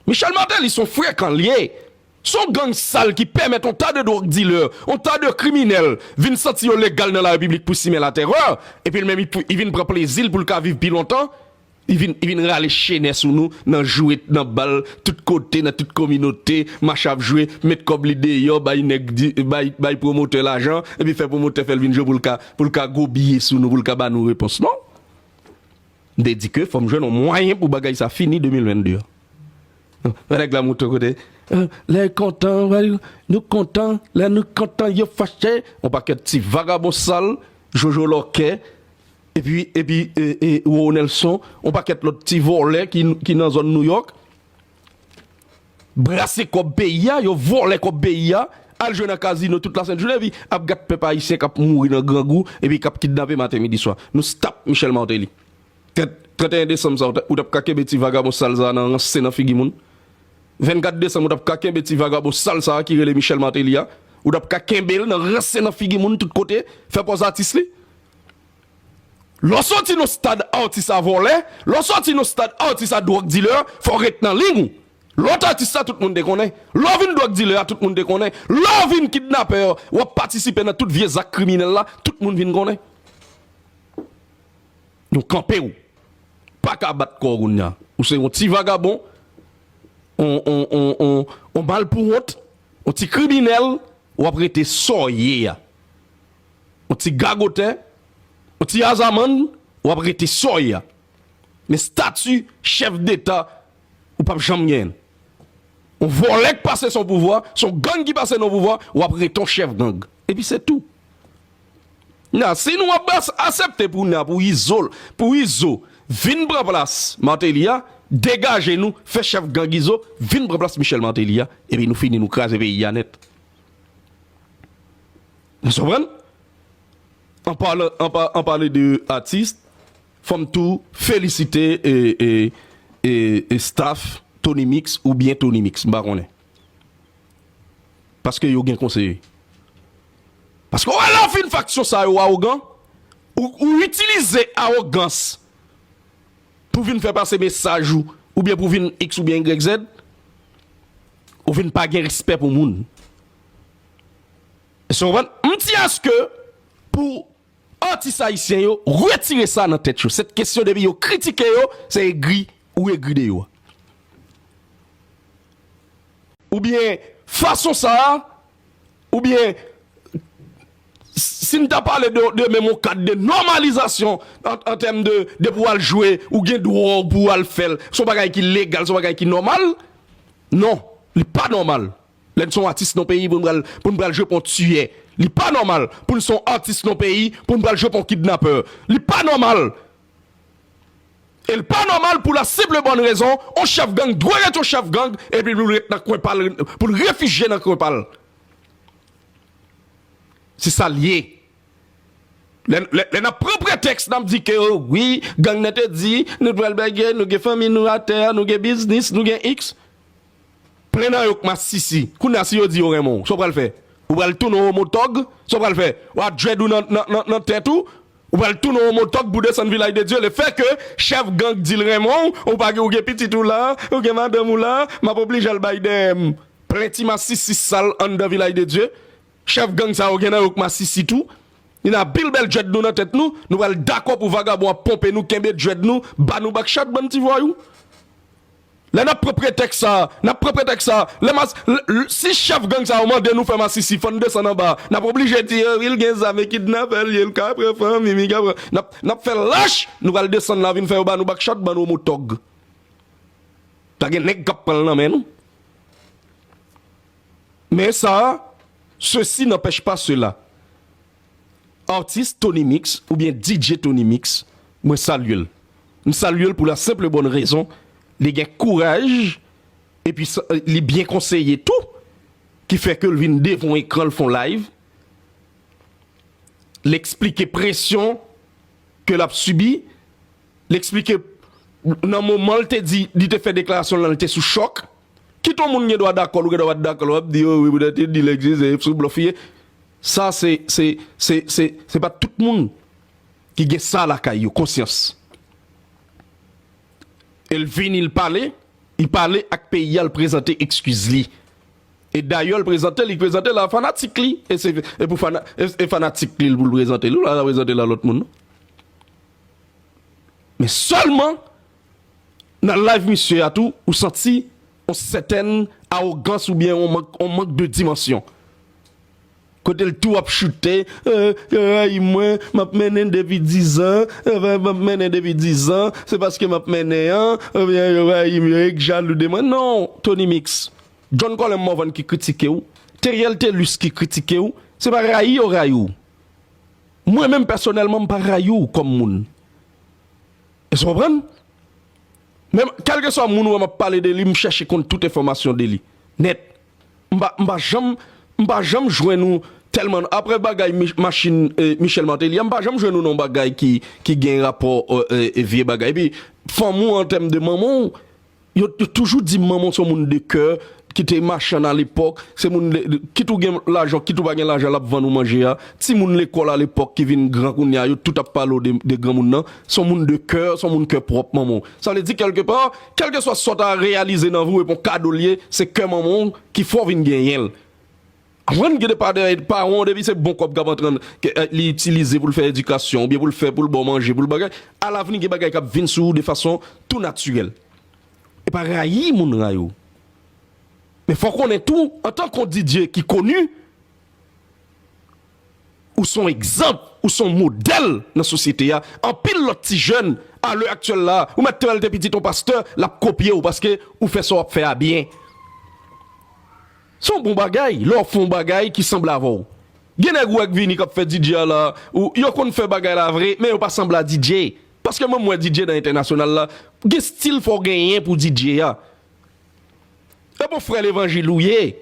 Michel Martelly son frekan liye, son gang sal ki pèmèt on ta de drug dealer, on ta de kriminèl vin santi yo legal nan la repiblik pou simen la terreur, epi li menm li vin pran plezil poul ka viv pi lontan, li vin li vin rale chenè sou nou nan jwe nan bal tout kote nan tout kominote mach ap jwe met kòb li deyò bay nèg di bay bay pwomotè lajan epi fè pwomotè fèl vin jwe poul ka poul ka gwo biye sou nou poul ka ba nou repons non. M te di ke fò m jwenn yon mwayen pou bagay sa fini 2022 an. Yon nèg la moute yon kote, Lè yo kontan, nou kontan, lè nou kontan yo fache. Yon pakèt ti vagabon sal, Jojo Lòkè, epi, epi, Roro Nèlson, yon pakèt lòt ti vòlè ki nan zòn Nouyòk. Brase kòb peyi a, yo vòlè kòb peyi a, al jwe nan kazino tout la sent jounen epi ap gad pèp ayisyen kap mouri nan grangou epi kap kidnape maten midi swa. Nou stop Michel Martelly. Trèt, 31 desanm sa ou tap ka kenbe ti vagabon sal sa nan ranse nan figi moun? 24 desanm ou tap ka kenbe ti vagabon sal sa ki rele Michel Martelly a? Ou tap ka kenbel nan ranse nan figi moun tout kote, fè pòz atis li? Lè w soti nan stad atis a vòlè, lè w soti nan stad atis a drug dealer, fò w ret nan liy ou. Lè w t atis la tout moun te konnen. Lè w vin drug dealer a tout moun te konnen. Lè w vin kidnapè a, w ap patisipe nan tout vye zak kriminèl la, tout moun vin konnen. Nou kanpe w pa ka bat kò w kounye a. Ou se yon ti vagabon, yon malpouwont, yon ti kriminèl, w ap rete sa w ye a. yon ti gagotè, yon ti azamann, w ap rete sòy a. Men stati chèf deta, ou pap janm genyen l. Yon vòlè k pase son pouvwa, son gang ki pase nan pouvwa, w ap rete yon chèf gang. Epi se tou. Nan, si nou ap asepte pou nan, pou Izo, pou Izo vin pran plas Martelly a, degaje nou, fè chèf gang Izo vin pran plas Michel Martelly a, epi nou fini, nou kraze peyi a nèt. Nou konprann? An palan an pale de atis fòm tou felisite staff tonymix ou byen tonymix m pa konnen. Paske yo gen konseye. Paske wè lè w fin faksyon sa yo awogan ou itilize awogans pou vin fè pase mesaj ou ou byen pou vin x ou byen ygrèk zèd ou vin pa gen respè pou moun. Èske nou konprann? M di aske pou atis ayisyen yo retire sa nan tèt yo. Sèt kesyon depi yo kritike yo, se egri ou egri de yo. Oubyen fason sa a, oubyen si m ta pale de menm yon kad de nòmalizasyon an tèm de depi ou al jwe, ou gen dwa w pou ou al fè l. Se yon bagay ki legal, se yon bagay ki nòmal. Non, li pa nòmal. Lè n son atis non peyi pou n pral pou n pral jwe pou yon tiyè li pa nòmal pou n son atis non peyi pou n pral jwe pou yon kidnapè li pa nòmal e l pa nòmal pou la senp le bòn rezon yon chèf gang dwe ret yon chèf gang epi pou l ret nan kwen pa l pou l refijye nan kwen pa l se sa l ye lè lè lè n ap pran pretèks n ap di ke wi gang nan te di nou pral bègè nou gen fanmi nou atè nou gen biznis nou gen iks Plen nan yo k masisi. Kounye a si yo di yo renmen w, sa w pral fè? Ou pral tounen yon homo tòg? Sa w pral fè? W ap dread ou nan tèt ou? Ou pral tounen yon homo tòg pou desann vilaj de Dye? Le fè ke chèf gang di l renmen w, ou pa gen, ou gen pitit ou la, ou gen madanm ou la, m ap oblije al bay dèyè m. Plen ti masisi sal anndan vilaj de Dye. Chèf gang sa yo gen nan yo k masisi tou. Li nan pil bèl dread nou nan tèt nou. Nou pral dakò pou vagabon ap ponpe nou, kenbe dread nou, ba nou bakchat bann ti vwayou. Lè nap pran pretèks sa, nap pran pretèks sa, lè mas, l, si chèf gang sa yo mande nou fè masisi fò n desann anba, nap oblije di yo wi l gen zam e kidnapè l ye, l ka pran fanmi m, li ka pran, nap, nap fè lach, nou pral desann la vin fè yo ba nou bakchòt, ba nou omo tòg. Pa gen nèg kap pran l nan men nou. Men sa, sesi nanpèch pa sela. Artist Tony Mix oubyen DJ Tony Mix mwen salye l. M salye l pou la senp e bòn rezon li gen kouraj epi li byen konseye tou ki fè ke l vin devan ekran l fon live l eksplike presyon ke l ap sibi l eksplike nan moman l te di li te fè deklarasyon l lan l te sou chòk. Kit yon moun gen dwa dakò l ou gen dwa pa t dakò l w ap di yo wi poutèt yo di l egziste e sou blòf li ye. Sa se se se se se pa tout moun ki gen sa lakay yo konsyans e l vini l pale li pale ak peyi a l prezante ekskiz li e dayè l prezante li prezante l a fanatik li e se e pou fana e fanatik li l pou l prezante li l pa prezante l a lòt moun non men sèlman Nan live misye a tou ou santi yon sètèn awogans oubyen yon mank yon mank de dimansyon. Kote l tou ap choute eh yo rayi mwen map mennen depi 10 an eh map mennen depi 10 an se paske map mennen an oubyen yo rayi m yo ek jalou de mwen non Tony Mix John Colem Morvan ki kritike w Theriel Thelus ki kritike w se pa rayi yo rayi w mwen menm pèsonèlman m pa rayi w kòm moun. Èske w konprann? Men, kèlkeswa moun ou wè m ap pale de li, m chèche konn tout enfòmasyon de li nèt. M pa, m pa janm, m pa janm jwenn ou tèlman, apre bagay machin Michèl Mateli a, m pa janm jwenn ou nan yon bagay ki gen rapò vye bagay. Epi, fanmi w an tèm de manman w, Yo toujou di manman w se yon moun de kè, ki te machann alepòk, se moun de, kit ou gen lajan, kit ou pa gen lajan l ap vann ou manje a. Timoun lekòl alepòk ki vin gran kounye a, yo tout ap pale w de granmoun nan, se yon moun de kè, se yon moun kè pwòp manman w. Sa vle di kèlke pa, kèlkeswa sa w ta reyalize nan vi w epi yon kado l ye, se kè manman w ki fè w vin genyen l. Jwenn gide pa dèyè ed paran w depi se bon kòb k ap antre n ke li itilize pou l fè edikasyon oubyen pou l fè pou l ba w manje pou l bagay alavni gen bagay k ap vin sou ou de fason tou natirèl e pa rayi moun rayi w men fò w konnen tou antan k on Didier ki koni ou s on egzanp ou s on modèl nan sosyete a anpil lòt ti jèn alè aktyèl la ou mèt te wè l te pitit on pastè l ap kopye w paske ou fè sa w ap fè a byen. Se yon bon bagay lè wap fè yon bagay ki sanble avè w. Gen nèg ou wè k vini kap fè DJ a la, ou, yo konn fè bagay la vre men yo pa sanble a DJ. Paske menm mwen DJ nan entènasyonal la, gen stil fò w genyen pou w DJ a. Ebon frè levanjil ou ye.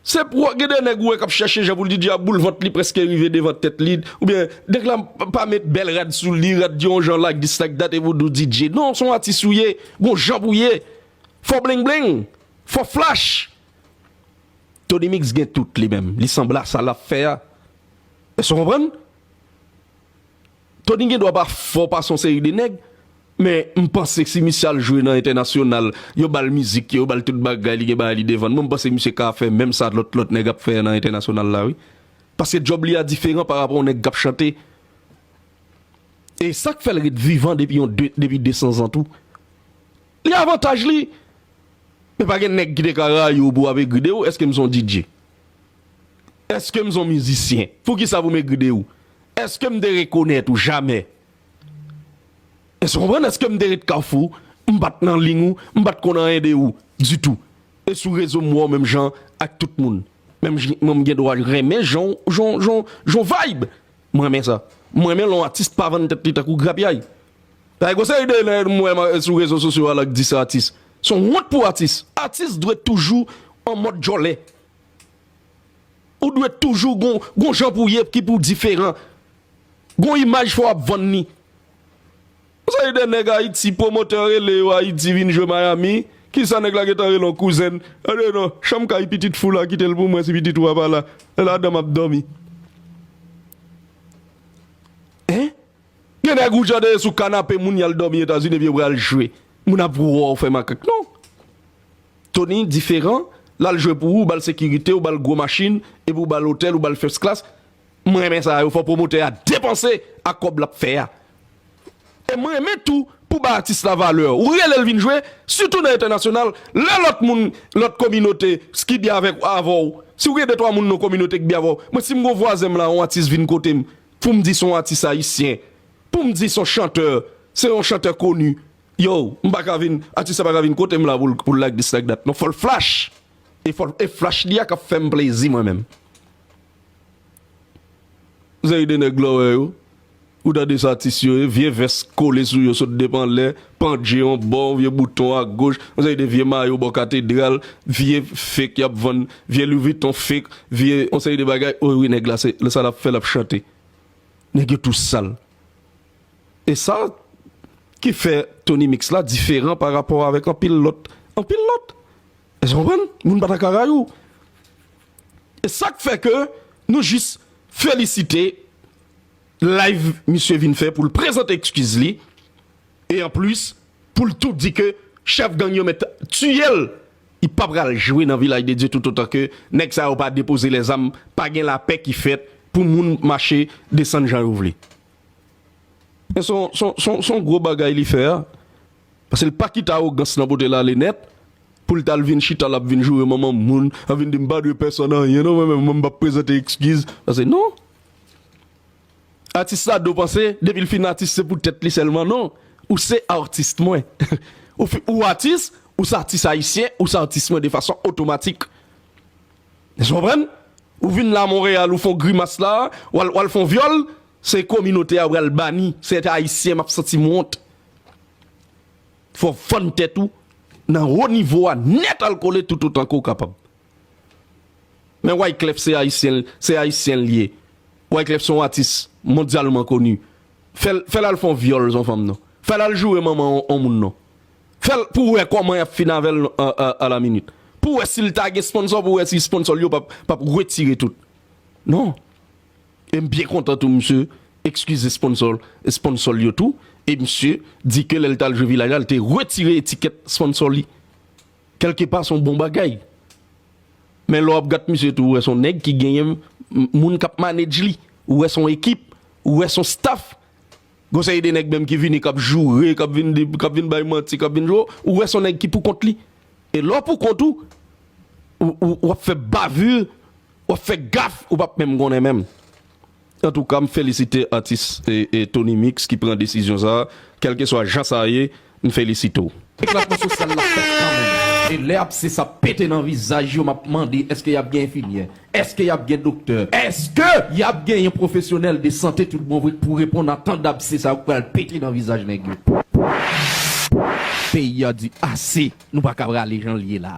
Se pou w, gen de nèg ou wè kap chèche jan pou l DJ a boul vant li prèske rive devan tèt li, oubyen nèg la pa met bèl rad sou li, rad di yon jan like this like that epi w di w DJ. Non, se yon atis ou ye, gon jan pou w ye. Fò w bling bling, Fò flash! Tony mix gen tout li menm, li sanble a sa lap fè a. Èske w konprann? Tony gen dwa pa fò pase yon seri de nèg, men m panse si misye al jwe nan entènasyonal, yo ba l mizik yo, yo ba l tout bagay, li gen bagay li devan l, mwen m panse misye ka fè menm sa lòt lòt nèg ap fè nan entènasyonal la wi. Paske djòb li a diferan pa rapò yon nèg k ap chante. E sa k fè l ret vivan depi yon depi 200 zan tou. Li avantaj li Men pa gen nèg ki te ka rayi w pou w ap egri de ou Èske m son DJ? Èske m son mizisyen? Poukisa pou m egri de ou? Èske m te rekonèt ou? Jamè Èske w konprann? Èske m te ret kafou M pa t nan ling ou M pa t konn anyen de ou ditou E sou rezo m wè w menm jan ak tout moun Menm jan mwen m gen dwa renmen jan w jan w jan w jan w vibe M renmen sa M renmen lè yon atis pa vann tèt li tankou grapyay Dayè gon seri de nèg m wè sou rezo sosyo a la k di se atis. Se yon wont pou atis. Atis dwe toujou an mòd djòlè. Ou dwe toujou gon jan pou w ye ki pou w diferan. Gon imaj fò w ap vann li. Gon seri de nèg Ayiti pwomotè rele yo Ayiti vin jwe Miami. Kisa nèg la gen tan rele yon kouzen l. Yo di non chanm kay pitit fou la kite l pou mwen si pitit ou a pa la. Se ladan m ap dòmi. Hein? Gen nèg ou jan deye sou kanape moun yal dòmi etazini epi yo pral jwe moun ap wè w fè makak non Tony diferan lal jwe pou ou ou bal sekirite ou bal gwo machin epi ou bal otèl ou bal first class m renmen sa yo fò pwomotè a depanse ak kòb lap fè a e m renmen tou pou bay atis la valè ou rele l vin jwe sitou nan entènasyonal lè lòt moun lòt kominote ki byen avèk avè w si w gen de twa moun nan kominote ki byen avè w mwen si m gen yon vwazen m la yon atis vin kote m Pou m di s on atis ayisyen, pou m di s on chantè, se yon chantè koni, yow, m pa ka vin, atis la pa ka vin kote m la pou l like this like that non, fò l flash! E fò l, e flash li a k ap fè m plezi mwen menm. Seri de nèg lò wè yo, ou tande sa atis yo ye, vye vès kole sou yo sot depi anlè, Pant je yon bò, vye bouton a goch, yon seri de vye mayo bò katedral, vye fake y ap vann, vye Louis Vuitton fake, vye yon seri de bagay. O wi nèg la se sa l ap fè l ap chante. Nèg yo tou sal. E sa ki fè Tony Mix la diferan pa rapò avèk anpil lòt. Anpil lòt. Èske w konprann? Moun pa ta ka rayi w. E sa k fè ke nou jis felisite live misye vin fè pou l prezante ekskiz li. E anplis poul tou di ke chèf gang yo mèt tiyel li pa pral jwe nan vilaj de Dye toutotan ke nèg sa yo pa depoze lèzam pa gen lapè ki fèt pou moun mache desann jan yo vle. Men son son gwo bagay li fè a paske li pa kite awogans lan potel ale nèt poul tal vin chita lap vin joure manman moun lap vin dim pa dwe pèsòn anyen non mwen menm mwen pap prezante ekskiz paske non. Atis la do panse depil fin atis se pou tèt li sèlman non ou se artist mwen ou atis ou se atis ayisyen ou se atis mwen de fason otomatik èske w konprann ou vin la Montréal ou fon grimas la wal fon vyòl se kominote a ou pral bani se ète ayisyen map santim wont fò fann tèt ou nan wo nivo a nèt al kole tout otan ke ou kapab. Men Wyclef se Ayisyen se Ayisyen l ye Wyclef son atis mondyalman koni fè fè l al fon vyòl son fanm non fè l al joure manman on moun non fè l pou wè kòman yap fin avè l a la minit pou wè sil ta gen sponsò pou wè si sponsò l yo pap pap retire tout non e m byen kontan tou misye ekskize sponsò l sponsò l yo tou e misye di ke lè l tal jwe vilaj la l te retire etikèt sponsò li. Kèlke pa son bon bagay. Men lè w ap gat misye tou ou wè son nèg ki genyen moun k ap manedj li. Ou wè son ekip. Ou wè son staff. Gon seri de nèg menm ki vini k ap joure, k ap vin di, k ap vin bay manti, k ap vin jwe. Ou wè son nèg ki pou kont li. E lè w pou kont ou, ou ap fè bavure, ou ap fè gaffe, ou p ap menm konnen menm. Antouka m felisite atis Tony mix ki pran desizyon sa, kelkeswa jan sa ye m felisite w. Eklatman sosyal la fèt kanmenm e lè abse sa pete nan vizaj yo map mande eske yap gen enfimyè? Eske yap gen doktè? Eske yap gen yon pwofesyonèl de sante tout bon vre k pou reponn a tan dabse sa yo k pral pete nan vizaj nèg yo? Peyi a di ase, nou paka prale janl ye la.